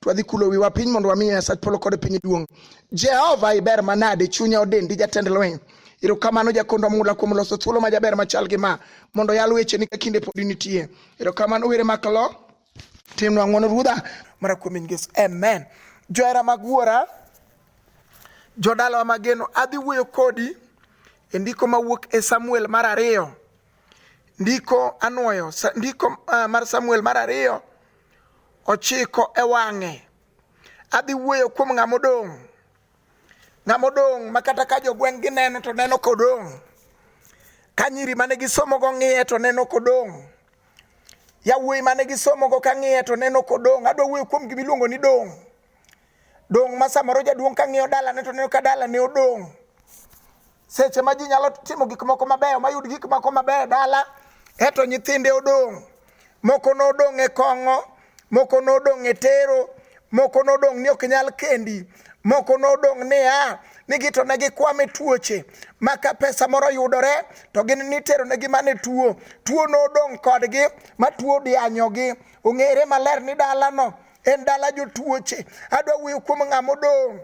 twadhi kulo wiwa piny mondo wami Nyasach polo kod piny duong'. Jehova iber manade, chunya odendi jatend lweny. Erokamano jakondo mula kuom loso thuolo ma jaber machal gi ma mondo yal weche ni ka kinde pod nitie. Erokamano were makalo timnwa ng'wono ruodha mara kuom in Yesu. Amen. Johera mag wuora, jodalawa mageno, adhi wuoyo kodi e ndiko mawuok e Samuel mar ariyo. Ndiko anwoyo, ndiko uh, mar Samuel mar ariyo ochiko e wang'e adhi wuoyo kuom ng'ama odong' ng'ama odong' ma kata ka jogweng' gineno to neno kodong' ka nyiri mane gisomogo ng'iye to neno kodong' yawuoyi mane gisomogo ka ng'iye to neno kodong' adwa wuoyo kuom gima iluongo ni dong' dong' ma samoro jaduong' ka ng'iyo dalane to neno ka dalane odong' seche ma ji nyalo timo gik moko mabeyo mayud gik moko mabeyo dala eto nyithinde odong' moko nodong' e kong'o moko nodong' e tero moko nodong' ni ok nyal kendi moko nodong' niya nigi to ne gikwame tuoche ma ka pesa moro yudore to gin nitero negi mane tuo tuo nodong' kodgi ma tuo dianyogi ong'ere maler ni dalano en dala jotuoche adwa wuoyo kuom ng'ama odong'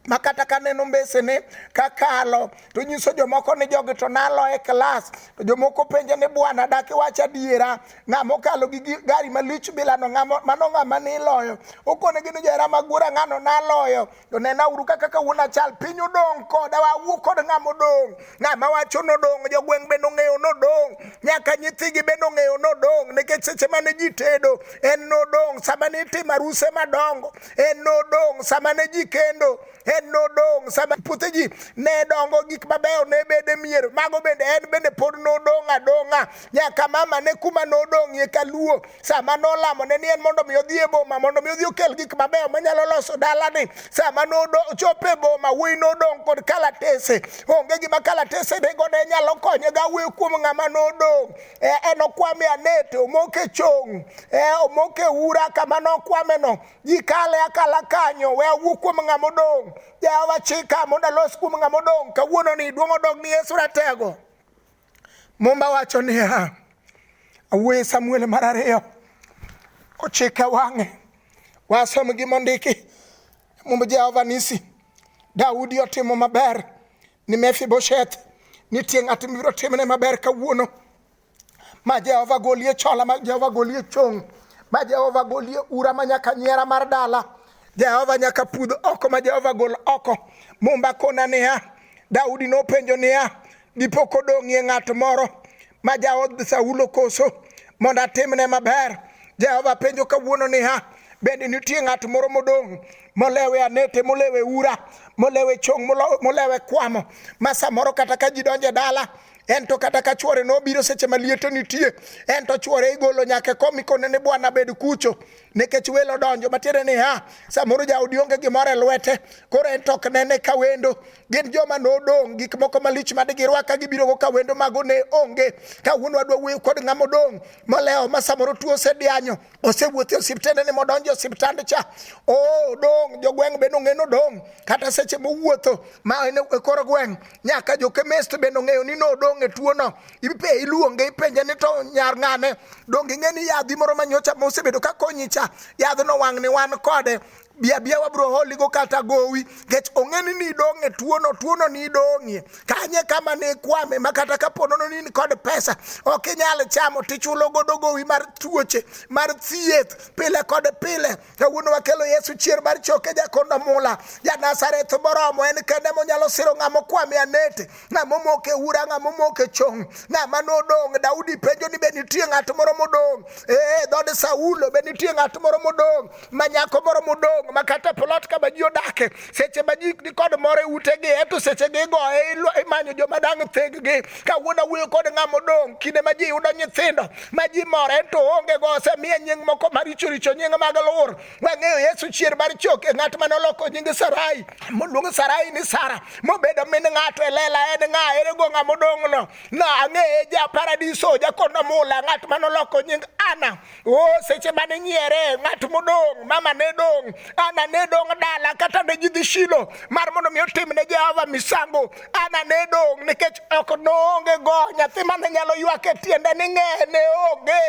ma kata ka neno mbesene kakalo to nyiso jomoko ni jogi to nalo e klas to jomoko penje ni bwana dak iwach adiera ng'ama okalo gi gari malich bilano mano ng'ama niloyo okonegi ni johera magura ng'ano naloyo to nena uru kaka kawuono achal piny odong' koda wawuo kod ng'ama odong' ng'ama wacho nodong' jogweng' bende ong'eyo nodong' nyaka nyithigi bende ong'eyo nodong' nikech seche mane ji tedo en nodong' sama nitimo aruse madongo en nodong' sama ne ji kendo en nodong' sama puothe ji ne dongo gik mabeyo ne bede mier mago bende en bende pod nodong' adong'a nyaka mama ne kuma nodong'ie kaluo sama nolamo ne ni en mondo mi odhi e boma mondo mi odhi okel gik mabeyo manyalo loso dalani sama nochopo e boma wuoyi nodong' kod kalatese onge gima kalatese nego ne nyalo konye ga wuoyo kuom ng'ama nodong' eh, enokwame anet omoke chong eh, omoke ura kama nokwame no ji kale akala kanyo we awuo kuom ng'ama odong' jehova chika mondo alos kuom ng'ama odong' kawuono ni duong' odog ni yesu ratego mumba wacho niya awuoye samuel mar ariyo ochike wang'e wasom gimondiki mumb jehova nisi daudi otimo maber ni Mefibosheth, nitie ng'at mibiro timne maber kawuono ma Jehova golie chola, ma Jehova golie chong', ma Jehova golie ura ma nyaka nyiera mar dala. Jehova nyaka pudh oko ma Jehova gol oko. Mumba kona niya, Daudi nopenjo niya, dipo kodong'ie ng'at moro ma jaod Saulo koso mondo atimne maber. Jehova penjo kawuono niya, bende nitie ng'at moro modong' molewe anete molewe ura molewe chong' molewe kwamo ma samoro kata ka ji donje dala en to kata ka chwore nobiro seche ma liete nitie en to chwore igolo nyaka e kom ikone ni bwana bed kucho nikech welo donjo matiende ni ha samoro jaodi onge gimoro e lwete koro en to ok nene ka wendo gin joma nodong' gik moko malich ma digirwak ka gibirogo ka wendo mago ne onge ka wuon wadwa wuoyo kod ng'ama odong' molewo ma samoro tuo osedianyo osewuothe osiptende ni modonjo osiptand cha o oh, dong' jogweng' bende ong'e ni odong' kata seche mowuotho ma en e kor gweng' nyaka jokemist bende ong'eyo ni nodong' e tuono ipe iluonge ipenje ni to nyar ng'ane donge ing'e ni yadhi moro manyocha mosebedo ka konyi cha yadhno wang' ni wan kode bi abiya wabro holigo kata gowi nikech ong'eni ni idong' e tuono tuono ni idong'ie kanye kama ne ikwame ma kata ka ponono ni kod pesa ok inyal chamo tichulo godo gowi mar tuoche mar thieth pile kod pile kawuono wakelo yesu chier mar choke jakondo mula ja nazareth moromo en kende monyalo siro ng'ama okwame anete ng'a momoko e ura ng'a momoko e chong ng'a ma nodong' daudi penjo ni be nitie ng'at moro modong' ee dhod saulo be nitie ng'at moro modong' ma nyako moro modong' ma kata plot kama ji odake seche ma ji nikod moro e utegi eto seche gi igoye imanyo joma dang' theggi kawuono awuoyo kod ng'a modong' kinde ma ji yudo nyithindo ma ji mor ento onge go osemiye nying moko maricho richo nying mag lur wang'eyo yesu chier mar chok e ng'at mane oloko nying sarai moluong sarai ni sara mobedo min ng'ato e lela en ng'a ere go ng'a modong'no na ang'eye ja paradiso jakono mula ng'at mane oloko nying ana o seche mane nyiere ng'at modong' mama ne dong' ana ne dong' dala kata ne jidhi shilo mar mondo mi otim ne jehova misango Ana ne dong' nikech ok noonge go nyathi mane nyalo ywak e tiende ni ng'e ne onge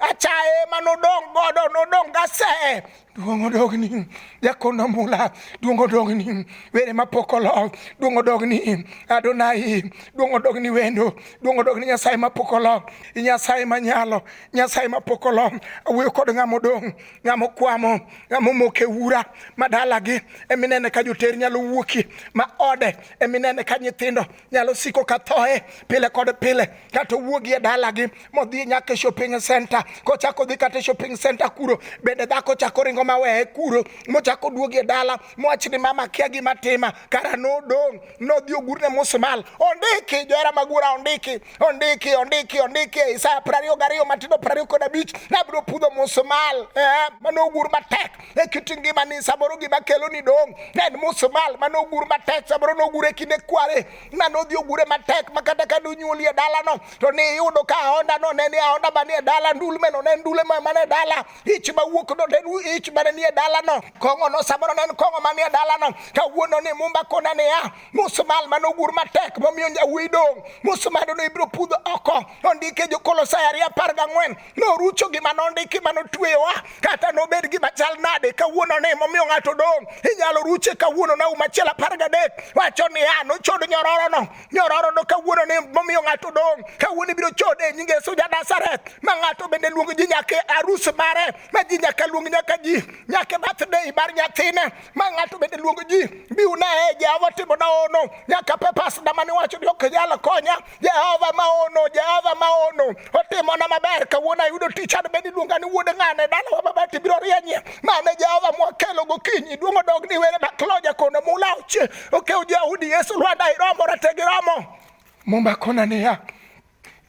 achaye ma nodong' godo nodong' gase duong' odogni jakono mula duong' odogni were mapok olo duong' odogni adonai duong' odogni wendo duong' odogni nyasaye mapok olo nyasaye manyalo nyasaye mapok olo awuoyo kod ng'ama odong' ng'ama okwamo ng'ama omoko e ura ma dalagi eminene ka joter nyalo wuoki ma ode eminene ka nyithindo nyalo siko ka thoe pile kod pile kata owuogi e dalagi modhi nyaka e shopping center kochako dhi kata e shopping center kuro bende dhako chako ringo maweye kuro mochako duogi e dala mowach ni mama kia gima tima kara nodong' nodhi ogurne musmal ondiki johera magura ondiki ondiki ondiki ondiki e isaya prariyo gariyo matindo prariyo kod abich nabiro pudho musmal eh, mano ogur matek e kit ngimani samoro gima kelo ni dong' ne en musmal mane ogur matek samoro nogure kinde kware na nodhi ogure matek ma kata ka nonyuoli e dalano to ne iyudo ka aondano ne ni aonda mani e dala ndulmeno ne ndule mane dala ich mawuok no ne en ich mane ni e dalano kong'ono samoro ne en kong'o mani e dalano kawuono ni mumba kona niya musmal mane ogur matek momiyo nyawuoyi dong' musmado no ibiro pudho oko ondike jokolosai ariyo apar gang'wen norucho gima nondiki ma notweyowa kata nobed gima chal nade kawuono ni momiyo ng'ato dong' inyalo ruche kawuono na uma achiel apar gadek wacho niya nochod nyororono nyororono kawuono ni momiyo ng'ato dong' kawuono ibiro chode e nyinge suja Nazareth ma ng'ato bende luongo ji nyaka e arus mare ma ji nyaka luong nyaka ji nyaka e birthday mar nyathine ma ng'ato bende luongo ji biuna e Jehova timo na ono nyaka pepas dama niwacho ni ok nyal konya Jehova maono, Jehova maono, otimona maber kawuono ayudo tich an bende iluonga ni wuod ng'ane dalawa babati biro rienyie mane Jehova mwakelo gokinyi duong' odog ni were makloja kono mula oche okew Jehudi Yesu Lwanda iromo rategi romo Mumba kona niya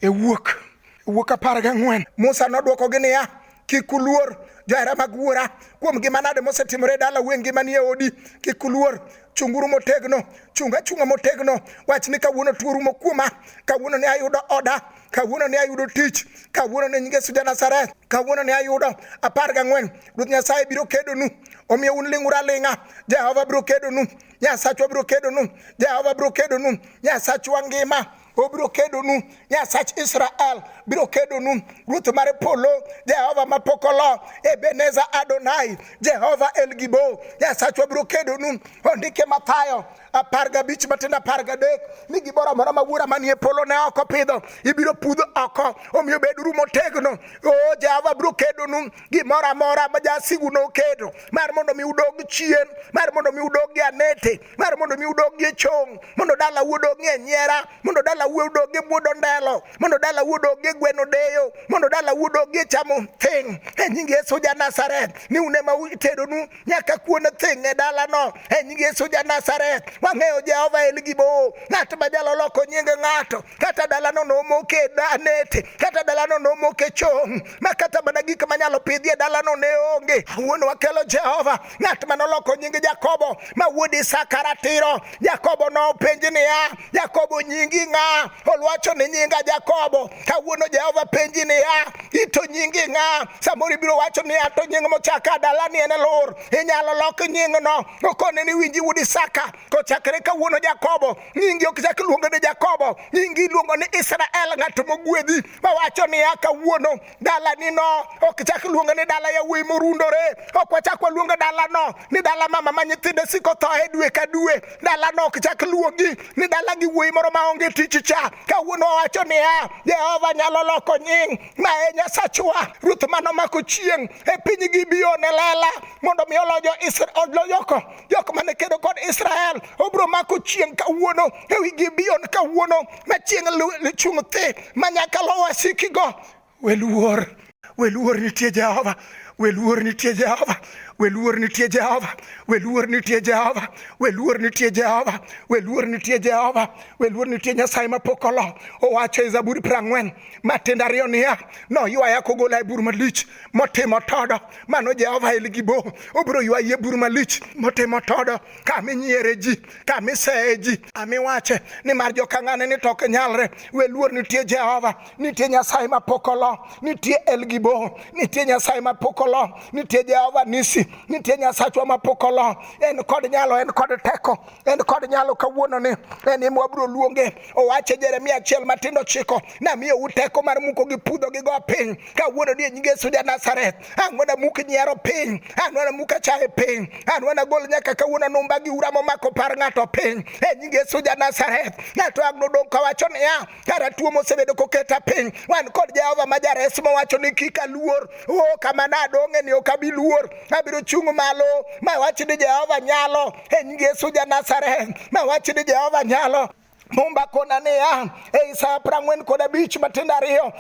e wuok e wuok apar gang'wen Musa nodwokogi niya kik uluor johera mag wuora kuom gima nade mosetimore e dala wen gima nie odi kik uluor chunguru motegno chung achunga motegno wach ni kawuono tuo rumo kuoma kawuono ne ayudo oda kawuono ne ayudo tich kawuono ne nyinge suja nazareth kawuono ne ayudo apar gang'wen ruoth nyasaye biro kedonu omiyo un ling'uru aling'a jehova biro kedonu nyasachwa biro kedonu jehova biro kedonu nyasachwa ngima obiro kedonu nyasach israel biro kedonu ruoth mar polo jehova mapok olo ebeneza adonai jehova elgibo nyasachwa biro kedonu ondike mathayo apar gabich matindo apar gadek ni gimoro amora ma wuora manie polo ne oko pidho ibiro pudh oko omiyo beduru motegno o jehova biro kedonu gimoro amora ma jasigu nokedo mar mondo mi udog chien mar mondo mi udog gi anete mar mondo mi udogi e chong mondo dala udogi e nyera mondo dala udogi e buodo ndelo mondo dala udogi e gweno deyo mondo dala udogi e chamo thing e nying Yesu ja Nazareth ni une ma utedonu nyaka kuon thing e dala no e nying Yesu ja Nazareth wang'eyo Jehova en gi bo ng'at ma jalo loko nying ng'ato kata dala no nomoke e danete kata dala no nomoke e chong ma kata mana gik manyalo pidhi e dala no ne onge wuon wakelo Jehova ng'at ma noloko nying Jakobo ma wuod Isaka ratiro. Jakobo nopenj niya, Jakobo nyingi ng'a? Olwacho ni nyinga Jakobo. Kawuono Jehova penji niya, ito nyingi ng'a? Samoro ibiro wacho niya, to nying mochaka dalani en Elur. Inyalo lok nyingno okone ni winji wuod Isaka. Kochakre kawuono Jakobo, nyingi ok chak luongo ni Jakobo, nyingi iluongo ni Israel, ng'at mogwedhi. Mawacho niya, kawuono dalanino ok chak luonge ni dala yawuoyi morundore ok wachak waluonge dalano ni dala mama ma nyithinde siko thoe dwe ka dwe dalano ok chak luongi ni dala gi wuoyi moro maonge tich cha kawuono owacho niya jehova nyalo loko nying ma e nyasachwa ruoth mano mako chieng' e piny gibione lela mondo mi olojoko jok mane kedo kod Israel obro mako chieng' kawuono ewi Gibeon kawuono ma chieng' lichung' thi ma nyaka lo wasikigo weluor weluor nitie Jehova weluor nitie Jehova weluor nitie Jehova weluor nitie Jehova weluor nitie Jehova weluor nitie Jehova weluor nitie Nyasaye mapok olo owacho e Zaburi prang'wen matindo ariyo niya noywaya kogola e bur malich motimo todo mano jehova elgibo obiro ywaye bur malich motimo todo kaminyiere ji kamiseye ji amiwache nimar jokang'ane ni tok nyalre we luor nitie jehova nitie nyasaye mapok olo nitie elgibo nitie nyasaye mapok olo nitie jehova nisi nitie nyasachwa mapok olo en kod nyalo en kod teko en kod nyalo kawuono ni en ema wabiro luonge owache jeremia achiel matindo chiko namiyo uteko mar muko gi pudho gi go piny kawuono ni e nying Yesu ja Nazareth an wana muk nyiero piny an wana muk achaye piny an wana gol nyaka kawuono anumba gi ura momako par ng'ato piny e nying Yesu ja Nazareth ng'ato ang' nodong' kawacho niya kara tuo mosebedo koketa piny wan kod Jehova ma jares mowacho ni kik aluor o kama nadong'e ni ok abi luor abiro chung' malo ma wach ni Jehova nyalo e nying Yesu ja Nazareth ma wach ni Jehova nyalo mumba kona niya ei sa apar ang'wen kod abich matindo ariyo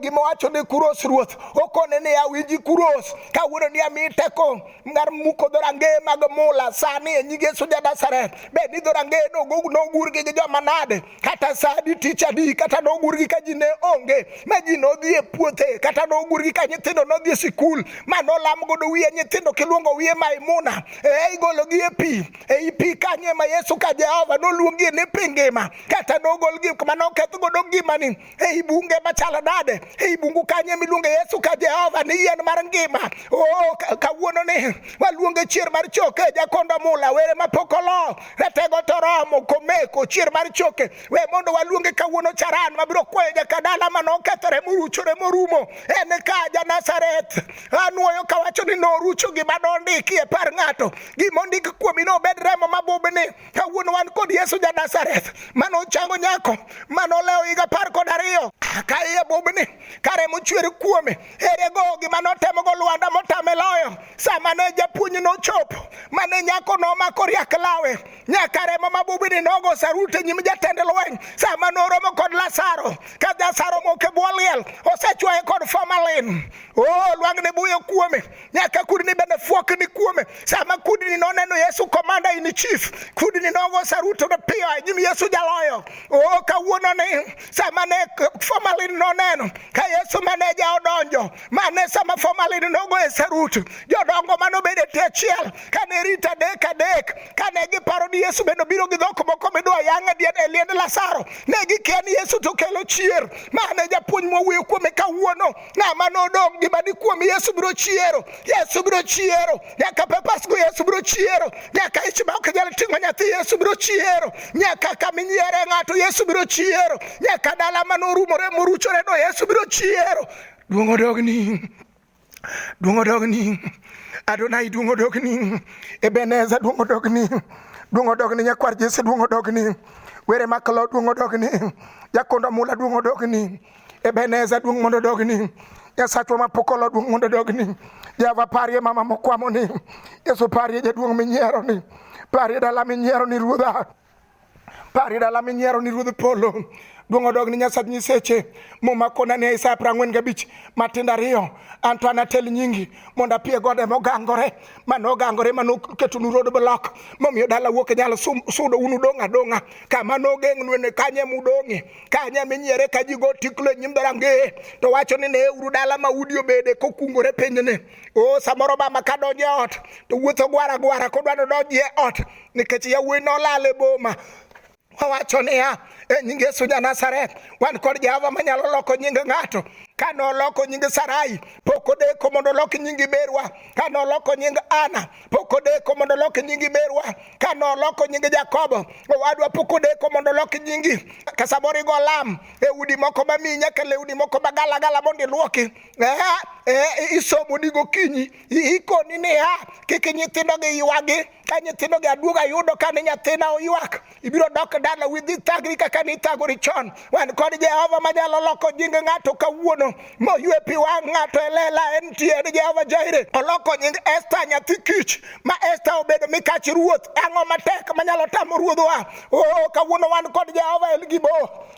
gima wacho ni kuros ruoth okone niya winji kuros kawuono ni ami teko mar muko dhorangeye mag mula sani e nyige suja nasaret bed ni dhorangeye nogurgi gi joma nade kata sadi tich adi kata nogurgi ka ji ne onge ma ji nodhi e puothe kata nogurgi ka nyithindo nodhi e sikul ma nolam godo wiye nyithindo kiluongo wiye maimuna e igologi e pi ei pi kanyo ema yesu ka jehova noluongie ni pi ngima kata nogol gik ma noketh godo ngimani ei bunge machalo nade ei bungu kanyo ema iluonge yesu ka jehova ni yien mar ngima o oh, kawuono ni waluonge chier mar choke jakondo mula were mapok olo ratego toromo komeko chier mar choke we mondo waluonge kawuono charan mabiro kwayo jakadala ma nokethore moruchore morumo en ka janasareth anwoyo kawacho ni norucho gima nondiki e par ng'ato gima ondik kuomi ne obed remo mabubni kawuono wan kod yesu ja nazareth mane ochango nyako mane olewo higa apar kod ariyo ka iye bubni ka remo chwer kuome ere go gima notemogo lwanda motame loyo sama ne japuonj nochopo mane nyako nomako riak lawe nyaka remo mabubni nogo sarut e nyim jatend lweny sama noromo kod lasaro ka jasaro moke bwo liel osechwaye kod formalin o oh, lwang'ne buyo kuome nyaka kudni bende fuok ni kuome sama kudni noneno yesu komanda in chief kudni nogo saruto ne piyo anyim yesu jaloyo o oh, kawuono ni sama ne formalin noneno ka yesu maneja odonjo mane sama formalin nogo e sarut jodongo manobedo e tie chiel kane rita adek adek kane giparo ni yesu bende obiro gi dhok moko midwa yang'e diet e liend lasaro ne gikia ni yesu to kelo chier mane japuonj mowuoyo kuome kawuono ng'ama nodong' gima dikuom yesu biro chiero yesu biro chiero nyaka pepasgo yesu biro chiero nyaka ich ma ok nyal ting'o nyathi yesu biro chiero nyaka kama inyiere ng'ato yesu biro chiero nyaka dala ma norumore moruchore no yesu biro chiero duong' odogni duong' odogni adonai duong' odogni ebeneza duong' odogni duong' odogni nyakwar jese duong' odogni were makalo duong' odogni jakondo mula duong' odogni Ebeneza duong' mondo dogni Nyasachwa ma pok olo duong' mondo dogni Java parie mama mokwamo ni Yesu parie jaduong' minyiero ni parie dala minyiero ni ruodha parie dala minyiero ni ruodh polo duong' odog ni nyasach nyiseche muma kona ne Isaya prang'wen gabich matindo ariyo anto anatel nyingi mondo apie gode mogangore mane ogangore mane oketonu road block momiyo dala wuok e nyalo sudo un udong' adong'a kama nogeng'nue ne kanye mudong'e ka nya minyiere ka ji go tiklo e nyim dhorange to wacho ni ne uru dala ma udi obede kokungore pinyni o samoro mama ka donjo e ot to wuotho gwara gwara kodwa nodonji e ot nikech yawuoyi nolal e boma wawacho niya e nying yesu ja nazareth wan kod jehova manyalo loko nying ng'ato ka noloko nying sarai pok odeko mondo olok nying iberwa ka noloko nying ana pok odeko mondo olok nyingi merwa ka noloko nyingi jakobo owadwa pok odeko mondo olok nyingi ka samoro igo lam e udi moko mamiyi nyaka lewni moko magalagala mondo ilwoki eh, eh, isomo ni gokinyi ikoni niya kik nyithindogi ywagi ka nyithindogi aduog ayudo ka ni nyathina oywak ibiro dok dala with this thagri kaka nithagori chon wan kod jehova manyalo loko jing ng'ato kawuono moywe pi wang' ng'ato e lela en tie en jehova jaire oloko nying esta nyathi kich ma esta obedo mikach ruoth ang'o matek manyalo tamo ruodhwa o oh, kawuono wan kod jehova el gibo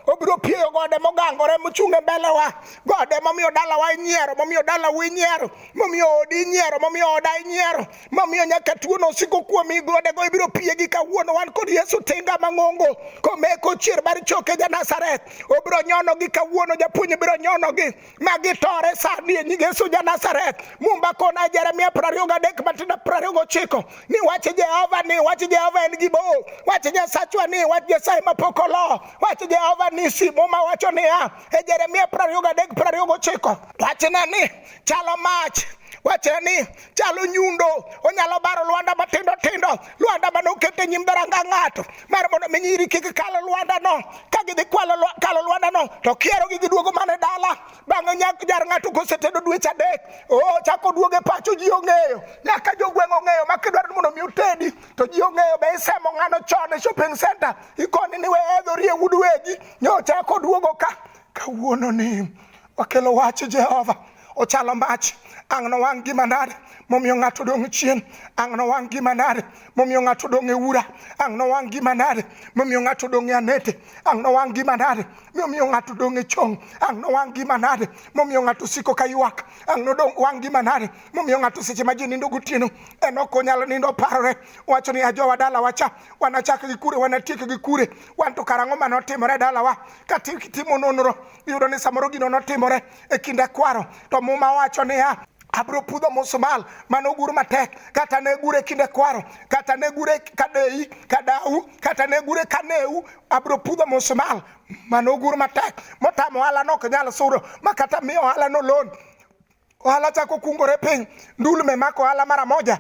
obiro pieyo gode mogangore mochung' e mbelewa gode momiyo dalawa inyiero momiyo dalawa inyiero momiyo odi inyiero momiyo oda inyiero mamiyo nyaka tuono osiko kuomi godego ibiro piegi kawuono wan kod yesu tinga mang'ongo komeko chier mar choke ja nazareth obiro nyonogi kawuono japuonj biro nyonogi ma gitore sani e nying yesu ja nazareth mumba kona jeremia prariyo gadek matindo prariyo gochiko ni wach jehova ni wach jehova en gibo wach nyasachwa ni wach nyasaye mapok olo wach jehova ni si muma wacho niya e jeremia prariyo gadek prariyo gochiko wachna ni chalo mach wachre ni chalo nyundo onyalo baro lwanda matindo tindo lwanda mane oket e nyim dharanga ng'ato mar mondo mi nyiri kik kalo lwanda no ka gidhi kalo lwanda no to kiero gi giduogo mane dala bang'e nyak jar ng'ato kosetedo dweche adek o chako duoge pacho ji ong'eyo nyaka jogweng' ong'eyo ma kidwaro mondo mi utedi to ji ong'eyo be isemo ng'ano chon e shopping center ikoni ni we edhorie wud wegi nyocha koduogo ka kawuono ni wakelo wach jehova ochalo mach ang' nowang' gi manade momiyo ng'ato dong' chien ang' nowang' gi manade momiyo ng'ato dong' e ura ang' nowang' gi manade momiyo ng'ato dong' e anete ang' nowang' gi manade momiyo ng'ato dong' e chong ang' nowang' gi manade momiyo ng'ato siko ka ywak ang' nodong' wang' gi manade momiyo ng'ato seche ma ji nindo gotieno en ok onyal nindo parore wacho ni ajowa dalawa cha wanachak gi kure wanatiek gi kure wan to karang'o mane otimore dalawa ka timo nonro iyudo ni samoro gino notimore e kinde kwaro to muma wacho niya abro pudho musumal mane ogur matek kata ne gure kinde kwaro kata ne gure kadeyi kadau kata ne gure kaneu abro pudho musumal mane ogur matek motamo ohala nok nyal sudo ma kata miyo ohala nolon ohala chako kungore piny ndulme mako ohala mara moja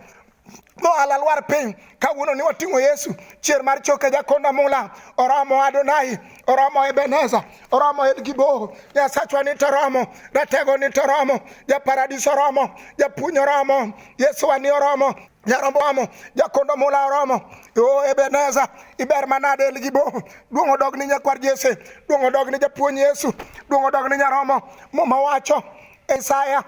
mohala lwar piny kawuono ni wating'o yesu chier mar choke jakonda mula oromo adonai oromo ebeneza oromo elgiboho nyasachwa ni toromo ratego ni toromo japaradiso oromo japuny oromo yesu wani oromo nyarombo amo jakondo mula oromo o ebeneza iber manade elgiboho duong' odog ni nyakwar jese duong' odog ni japuony yesu duong' odog ni nyaromo muma wacho Isaya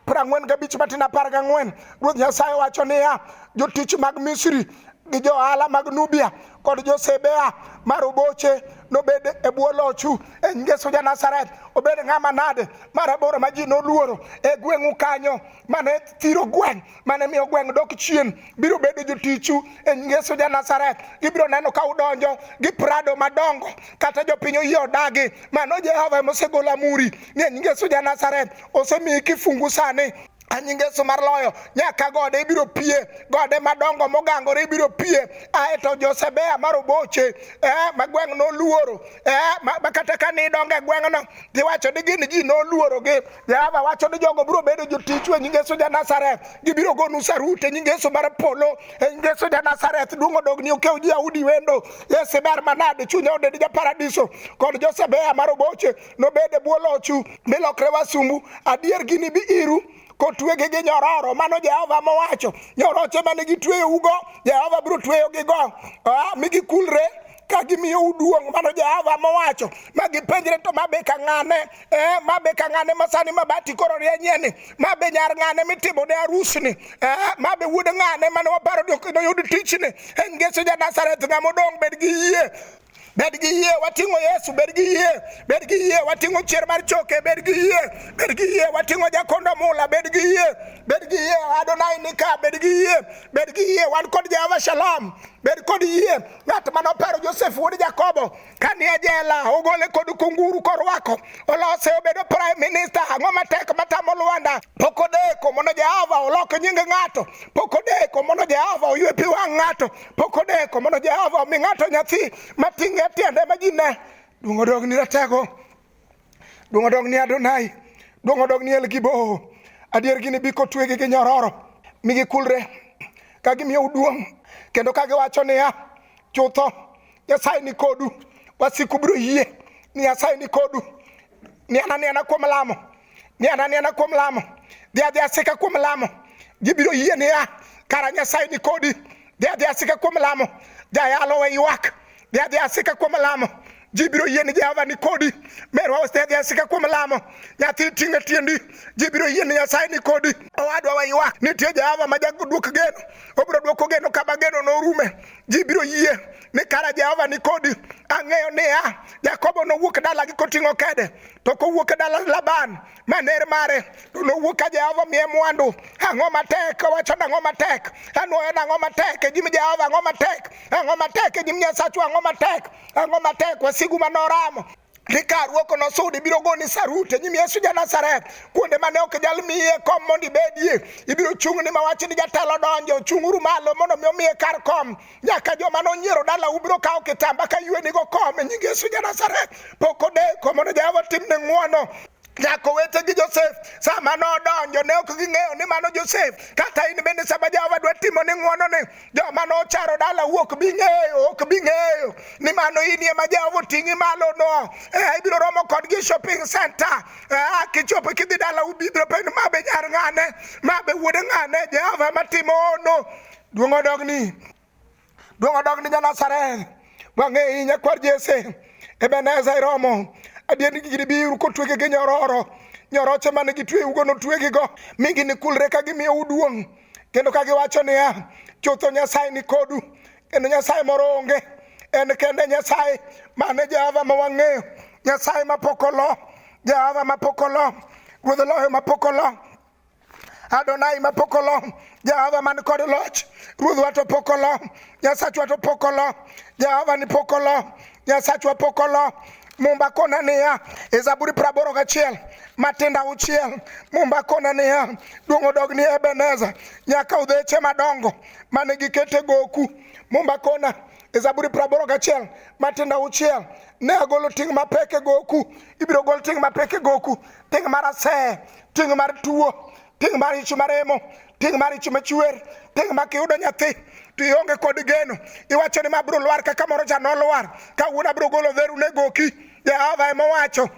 prang'wen gabich matin apar gang'wen Ruoth Nyasaye wacho niya, jotich mag Misri gi johala mag Nubia kod josebea mar oboche nobed e bwo lochu e ngeso ja Nazareth obed ng'ama nade mar aboro ma ji noluoro e gweng'u kanyo mane thiro gweng' mane miyo gweng' dok chien biro bedo jotichu e nying Yesu ja Nazareth. Ibiro neno ka udonjo gi prado madongo kata jopiny oyie odagi. Mano Jehova ema osegolo amuri ni e nying Yesu ja Nazareth osemiyi kifungu sani anyi ngeso mar loyo nyaka gode ibiro pie gode madongo mogangore ibiro pie ae to josebea mar oboche eh, ma gweng' noluoro eh, ma, ma kata ka nidongo e gweng'no giwacho ni gin ji noluorogi jehova wacho ni jogo biro bedo jotichu e nying yesu ja nazareth gibiro gonu sarut e nying yesu mar polo e nying yesu ja nazareth duong' odogni okew ji audi wendo yesu ber manade chunya odedi ja paradiso kod josebea mar oboche nobed e bwo lochu milokre wasumbu adier ginibi iru kotwegi gi nyororo mano jehova mowacho nyoroche mane gitweyougo jehova biro tweyogigo mi gikulre ka gimiyo uduong' mano Jehova mowacho ma gipenjre to ma be ka ng'ane eh, ma be ka ng'ane ma sani ma bati koro rienyie ni ma be nyar ng'ane mitimo ne arusni eh, ma be wuod ng'ane mane waparo ni ok noyud tichni eh, ngeso ja Nazareth ng'ama odong' bed gi yie bed gi yie wating'o yesu bed gi yie bed gi yie wating'o chier mar choke bed gi yie bed gi yie wating'o jakondo mula bed gi yie bed gi yie adonai nika bed gi yie bed gi yie wan kod jehova shalom bed kod yie ng'at mane opero Josef wuod Jakobo ka ni e jela ogole kod kunguru korwako olose obedo prime minister ang'o matek matamo Lwanda pok odeko mondo Jehova olok nying ng'ato pok odeko mondo Jehova oywe pi wang' ng'ato pok odeko mondo Jehova omi ng'ato nyathi mating'e tiende ma ji ne duong' odogni ratego Duong' odog ni Adonai, duong' odog ni El Gibo. Adier gini bi kotwegi gi nyororo, mi gikulre ka gimiyo duong' kendo ka giwacho niya, chutho Nyasaye ni kodu, wasiku biro yie ni Nyasaye ni kodu, ni ana ni ana kuom lamo ni ananiana kuom lamo dhi adhi asika kuom lamo gibiro yie niya kara nyasaye ni kodi dhi adhi asika kuom lamo jayalo we ywak dhi adhi asika kuom lamo ji biro yie ni jehova ni kodi merwa osedhi asika kuom lamo nyathi ting'e tiendi ji biro yie ni nyasaye ni kodi owadwa we ywak nitie jehova ma jadwok geno obiro dwoko geno kama geno norume ji biro yie ni kara Jehova ni kodi. Ang'eyo niya, Jakobo nowuok dalagi koting'o kede, to kowuok e dala Laban ma ner mare, to nowuok ka Jehova miye mwandu. Ang'o matek? Owacho nang'o matek? Anwoyo nang'o matek e nyim Jehova? Ang'o matek? Ang'o matek e nyim Nyasachwa? Ang'o matek? Ang'o matek? Wasigu ma noramo Rikaruo kono sudi biro goni sarut e nyim Yesu ja Nazareth kuonde mane ok jal miye kom mondo ibedie ibiro chung' ni mawach ni jatelo donjo chung'uru malo mondo mi omiye kar kom nyaka joma nonyiero dala ubiro kawo kitamba ka yue nigo kom e nying Yesu ja Nazareth pok odeko mondo Jehova timne ng'wono nyaka owete gi Josef sama nodonjo ne ok ging'eyo ni mano Josef kata in bende sama Jehova dwa timo ni ng'wono ni joma nocharo dala wuok bi ng'eyo ok bi ng'eyo ni mano in ema Jehova oting'i malo no eh, ibiro romo kodgi shopping center eh, kichopo kidhi dala ubiro penjo ma be nyar ng'ane ma be wuod ng'ane Jehova ema timo ono duong' odogni duong' odog ni janazareth wang'e i nyakwar jese ebeneza iromo adier ni gigi biuru kotwege gi nyororo nyoroche mane gitweyugo notwegigo mi ginikulre ka gimiyo uduong' kendo ka giwacho niya chutho nyasaye ni kodu kendo nyasaye moro onge en kende nyasaye mane jehova ma wang'eyo nyasaye mapok olo jehova mapok olo ruodh loyo mapok olo Adonai ma pok olo, Jehova man kod loch, Ruodhwa to pok olo, Nyasachwa to pok olo, Jehova ni pok olo, Nyasachwa pok olo. Mumba kona niya, e Zaburi praboro gachiel, matinda uchiel, Mumba kona niya, duong' odog ni Ebeneza, nyaka udheche madongo mane gikete goku. Mumba kona e Zaburi praboro gachiel, matinda uchiel, ne agolo ting' mapek e goku, ibiro gol ting' mapek e goku, ting' marasee ting' mar tuo ting' mar ich maremo ting' mar ich machwer ting' ma kiyudo nyathi to ionge kod geno iwacho ni ma biro lwar kaka moro cha nolwar kawuono abiro golo dheru ne goki jehova ema owacho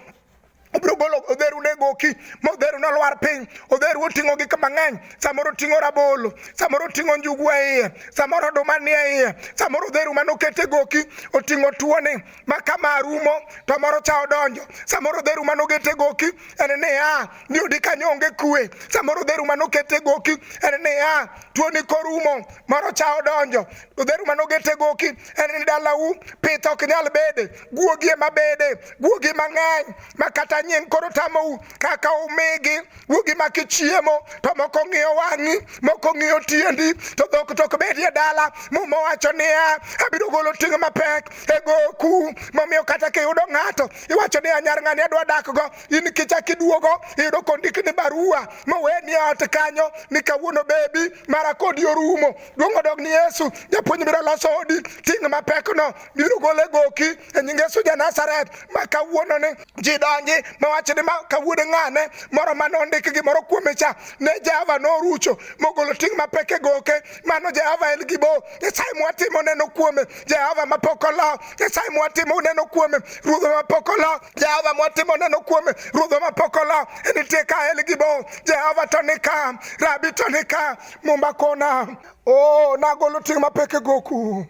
obiro golo odheru ne goki ma odheru nolwar piny odheru oting'o gik mang'eny samoro oting'o rabolo samoro oting'o njugu e iye samoro oduma nie iye samoro odheru mane okete goki oting'o tuoni ma kama rumo to moro cha odonjo samoro dheru mane ogete goki en niya ni odi kanyo onge kwe samoro dheru mane okete goki en niya tuoni korumo moro cha odonjo to dheru mane ogete goki en ni dalau pith ok nyal bede guogi ema bede guogi mang'eny ma kata nying koro tamou kaka umigi wuogi maki chiemo to moko ng'iyo wang'i moko ng'iyo tiendi to dhok to ok bedie dala muma wacho niya abiro golo ting' mapek e goku momiyo kata kiyudo ng'ato iwacho ni anyar ng'ani adwa dakgo in kichak iduogo iyudo kondik ni barua moweni e ot kanyo ni kawuono bebi mara kodi orumo duong' odog ni yesu japuonj biro loso odi ting' mapekno biro gole goki e nying yesu ja nazareth ma kawuononi ji donji mawacho ni ka wuod ng'ane moro mane ondik gimoro kuome cha ne jehova norucho mogolo ting' mapek e goke mano jehova en gibo nyasaye mwatimo neno kuome jehova mapok olo nyasaye mwatimo neno kuome ruodho mapok olo jehova mwatimo neno kuome ruodho mapok olo nitie ka en gibo jehova to nika rabi to nika mumba kona o oh, nagolo ting' mapek e goku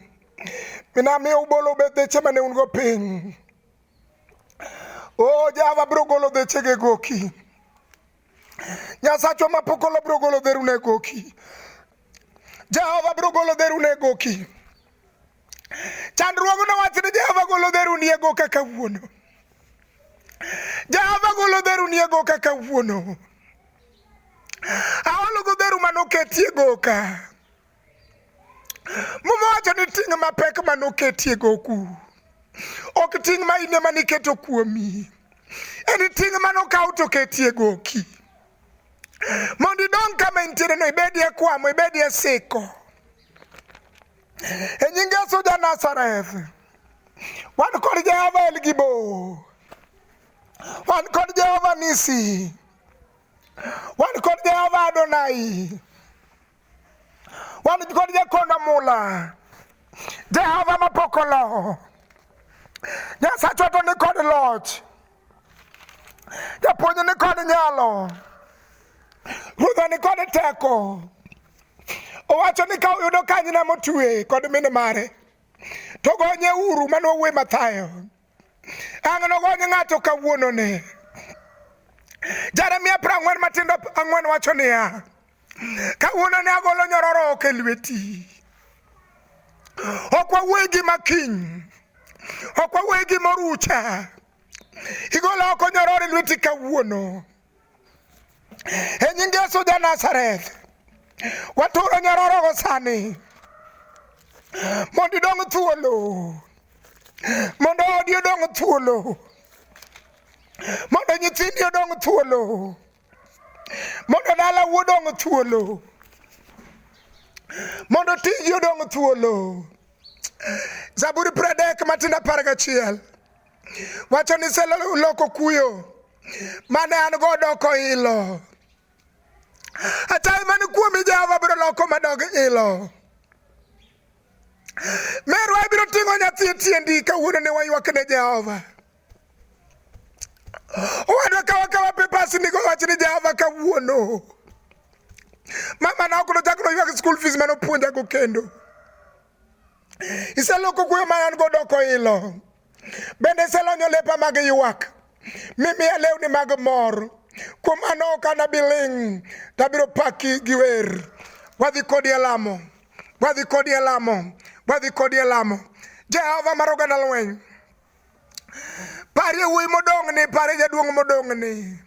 minamiyo ubolo obedheche mane un go piny Oh, Java bro golo de chege goki. Nyasacho mapokolo bro golo de rune goki. Java bro golo de rune goki. Chandruogo na wach ni Java golo de rune goki kaka wuono. Java golo de rune goki kaka wuono. Awalo go de ruma no ketie goka. Muma wacho ni ting' mapek ma noketie goku ok ting' ma in ema niketo kuomi, en ting' ma nokaw to ketie goki mondo idong kama intiere no ibedie kwamo ibedie siko e nying Yesu ja Nazareth wan kod Jehova El Gibo wan kod Jehova Nisi wan kod Jehova Adonai wan kod jakondo mula jehova mapok oloho nyasachwa to ni kod loch japuonj ni kod nyalo ruodha ni kod teko owacho ni ka uyudo kanyna motwe kod mine mare to gonye uru mano uwe mathayo Ang' nogony ng'ato kawuononi. Jeremia piero ang'wen matindo ang'wen wacho niya, kawuononi agolo nyororo oko e lweti. Ok wawuoye gima kiny, ok wawuoye gima orucha. Igolo oko nyororo e lweti kawuono. e nying yesu ja nazareth waturo nyarorogo sani mondo idong thuolo mondo odi odong thuolo mondo nyithindi odong thuolo mondo dala wuodong thuolo mondo tiji odong thuolo zaburi pradek matindo apar gachiel wacho ni seloko kuyo mane an go doko ilo achaye man kuomi jehova biro loko madog ilo merwa ibiro ting'o nyathi e tiendi kawuono ne waywak ne jehova owadwa kawakawa pepas nigo wach ni jehova kawuono mama na ok nochak noywak school fees mane opuonjago kendo iseloko kuyo ma an go doko ilo Bende iselonyo lepa mag ywak, mimiya lewni mag mor. Kuom mano ok anabi ling', tabiro paki gi wer. Wadhi kodi e lamo, wadhi kodi e lamo, wadhi kodi e lamo. Jehova mar oganda lweny, parie wuoyi modong'ni, parie jaduong' modong'ni,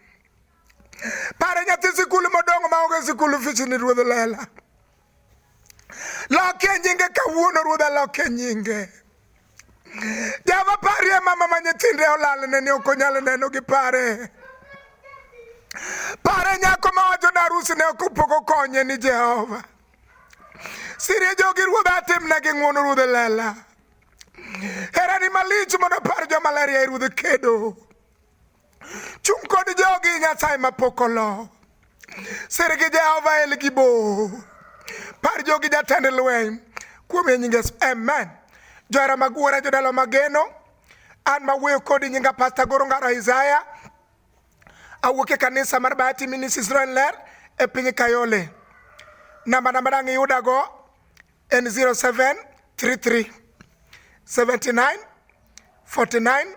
parie nyathi sikul modong' maonge sikul ofichni ruodh lela. Lokie nyinge kawuono ruodha, lokie nyinge. Java parie mama ma nyithinde olal nene ok onyal neno gi pare. Pare nyako ma wacho na arus ne ok pok okonye ni Jehova. Sirie jogi ruodha atimna gi ng'wono ruodha lela. Herani malich mondo par joma ler yaye ruodha kedo. Chung' kod jogi Nyasaye mapok olo. Sir gi Jehova El Gibo. Par jogi jatend lweny. Kuom e nyinge amen. Johera mag wuora jodalo mageno. An mawuoyo kodi nyinga Pastor Goro Ngaro Isaiah. Awuok e kanisa mar Bahati Ministries Ler e piny Kayole. Namba namba dang' iyudago en 0733 79 49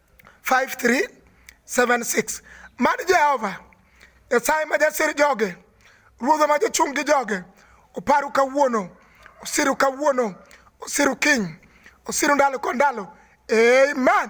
5376 mad jehova nyasaye ma jasir joge ruodha ma jachung' gi joge oparu kawuono osiru kawuono osiru kiny osiru ndalo kod ndalo amen